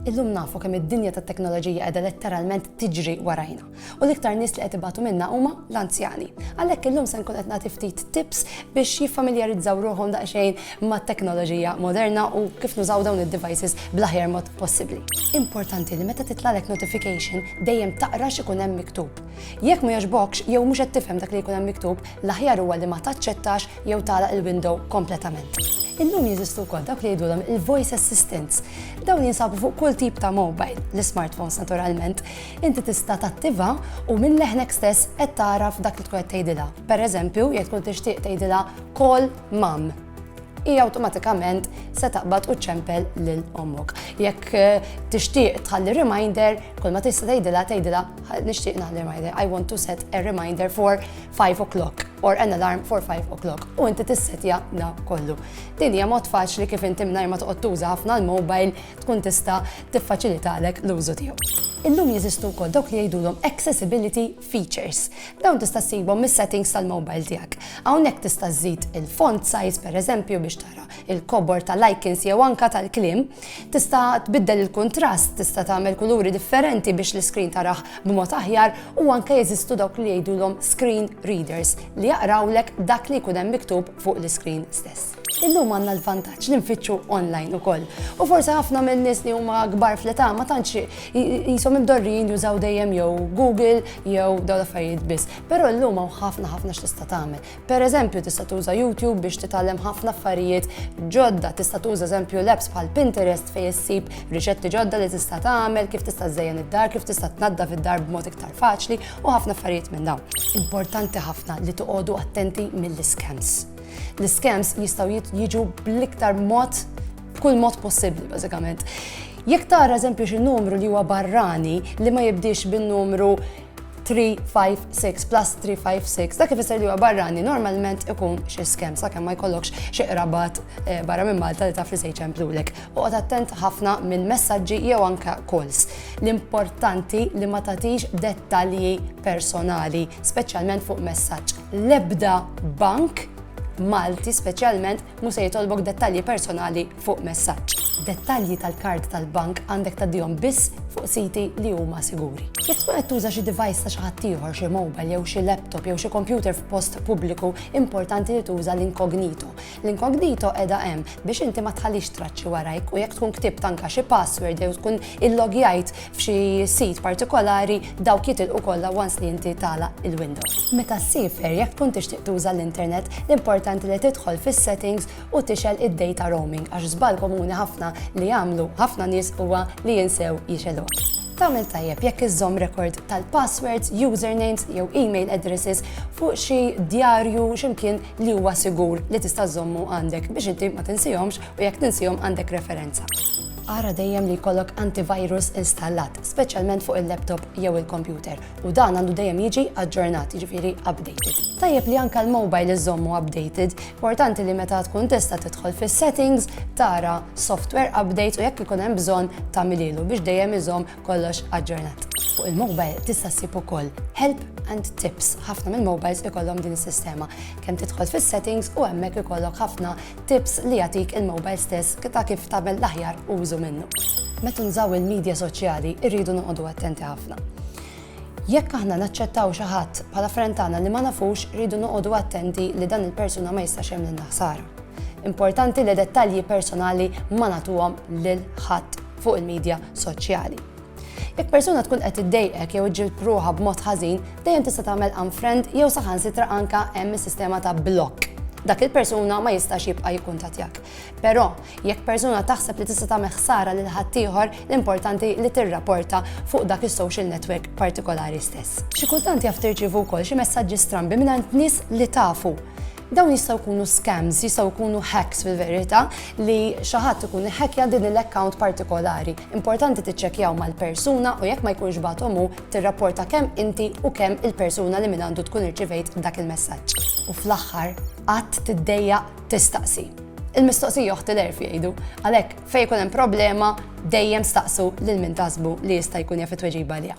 Illum nafu kemm id-dinja tat-teknoloġija qiegħda letteralment tiġri warajna. U l-iktar nies li qed ibatu minnha huma l-anzjani. Għalhekk illum se nkun qed nagħti ftit tips biex jiffamiljarizzaw ruħhom daqsxejn mat-teknoloġija moderna u kif nużaw dawn id-devices bl-aħjar mod possibbli. Importanti li meta titlalek notification dejjem taqra x'ikun hemm miktub. Jekk ma jogħġbokx jew mhux qed tifhem dak li jkun hemm miktub, L-aħjar huwa li ma taċċettax jew tagħlaq il-window kompletament. Illum jeżistu wkoll dawk li jgħidulhom il-voice assistants. Dawn jinsabu fuq kull tip ta' mobile, l-smartphones naturalment. Inti tista' tattiva u minn leħnek stess qed tagħraf dak li tkun qed tgħidilha. Pereżempju, jekk tkun tixtieq tgħidilha call mum. hija awtomatikament se taqbad u ċempel lil ommok. Jekk eh, tixtieq tħalli reminder, kull ma tista' tgħidilha tgħidilha nixtieq naħli reminder. I want to set a reminder for 5 o'clock or an alarm for 5 o'clock. U inti tissetja da kollu. Din hija mod faċli kif inti mingħajr ma toqgħod tuża ħafna l-mobile tkun tista' tiffaċilitalek l-użu tiegħu. Illum jeżistu wkoll dawk li jgħidulhom accessibility Features. Dawn tista' ssibhom mis-settings tal-mobile tiegħek. Hawnhekk tista' żżid il-font size pereżempju biex tara il-kobor tal-icons jew anka tal-kliem. Tista' tbiddel il-kuntrast, tista' tagħmel kuluri differenti biex l-iskrin taraħ b'mod aħjar u anke jeżistu dawk li jgħidulhom screen readers li jaqrawlek dak li jkun hemm miktub fuq l-iskrin stess. Illum għandna l-vantaġġ li nfittxu online ukoll. U forsi ħafna minn nies li huma kbar fl-età ma tantx jisom imdorrijin jużaw dejjem jew Google jew dawn l-affarijiet biss. Però llum hawn ħafna ħafna x'tista' tagħmel. Pereżempju tista' tuża YouTube biex titgħallem ħafna affarijiet ġodda, tista' tuża eżempju l-apps bħal Pinterest fejn issib riċetti ġodda li tista' tagħmel, kif tista' żejjen id-dar, kif tista' tnaddaf id-dar b'mod iktar faċli u ħafna affarijiet minn dawn. Importanti ħafna li toqogħdu attenti mill-iskems. L-iskems jistgħu jiġu bl-iktar mod b'kull mod possibbli bażikament. Jekk tara eżempju xi numru li huwa barrani li ma jibdix bin-numru 356 plus 356, dak ifisser li huwa barrani normalment ikun xi skem sakemm ma jkollokx xi qrabat eh, barra minn Malta li taf li se jċemplulek. Oqgħod attent ħafna minn messaġġi jew anke calls. L-importanti li ma tagħtix dettalji personali, speċjalment fuq messaġġ. l-ebda bank Malti speċjalment mu se jitolbok dettalji personali fuq messaġġ. Dettalji tal-kard tal-bank għandek taddihom biss fuq siti li huma siguri. Jekk tkun qed tuża xi device ta' xi ħadd ieħor, xi mobile jew xi laptop jew xi computer f'post pubbliku, importanti li tuża l-inkognito. L-incognito qiegħda hemm biex inti ma tħallix traċċi warajk u jekk tkun ktibt anke xi password jew tkun illogjajt f'xi sit partikolari dawk jitilqu kollha once li inti tagħlaq il-Windows. Meta ssifer jekk tkun tixtieq tuża l-internet, l-importanti li tidħol fis-settings u tixgħel id-data roaming għax żball komuni ħafna li jagħmlu ħafna nies huwa li jinsew jixgħeluha. Tagħmel tajjeb jekk iżżomm rekord tal-passwords, usernames jew email addresses fuq xi djarju x'imkien li huwa sigur li tista' żommu għandek biex inti ma tinsihomx u jekk tinsihom għandek referenza. Ara dejjem li jkollok antivirus installat, speċjalment fuq il-laptop jew il-kompjuter, u dan għandu dejjem jiġi aġġornat, jiġifieri updated. Tajjeb li anka l-mobile iżommu updated, importanti li meta tkun tista' tidħol fis-settings tara software update u jekk ikun hemm bżonn tagħmililu biex dejjem iżomm Kollox aġġornat. Fuq il-mobile tista' ssib ukoll help and tips. Ħafna mill-mobiles ikollhom din is-sistema. Kemm tidħol fis-settings u hemmhekk ikollok ħafna tips li jagħtik il-mobile stess ta' kif tagħmel l-aħjar użu minnu. Meta nżaw il-medja soċjali irridu noqogħdu attenti ħafna. Jekk aħna naċċettaw xi ħadd bħala frentana li ma nafux rridu noqogħdu attenti li dan il-persuna ma jistax hemm lil naħsara. Importanti li dettalji personali ma natuhom lil ħadd fuq il-midja soċjali. Jekk persuna tkun qed iddejqek jew iġġilb ruħha b'mod ħażin, dejjem tista' tagħmel unfriend jew saħansitra anka hemm is-sistema ta' blokk dak il-persuna ma jistax jibqa' jikkuntattjak. Però, jekk persuna taħseb li tista' tagħmel ħsara lil ħaddieħor, l-importanti li tirraporta fuq dak is-social network partikolari stess. Xi kultant jaf tirċievu wkoll xi messaġġi strambi mingħand nies li tafu. Dawn jistgħu jkunu scams, jistgħu jkunu hacks fil-verità li xi ħadd ikun iħekkja din il-account partikolari. Importanti tiċċekkjaw mal-persuna u jekk ma jkunx bagħthom hu tirrapporta kemm inti u kemm il-persuna li minn għandu tkun irċivejt dak il-messaġġ. U fl-aħħar qatt tiddejjaq tistaqsi. Il-mistoqsija joħti l-erf jgħidu. Għalhekk fejn ikun hemm problema dejjem staqsu lil min tasbu li jista' jkun jaf it-tweġiba liha.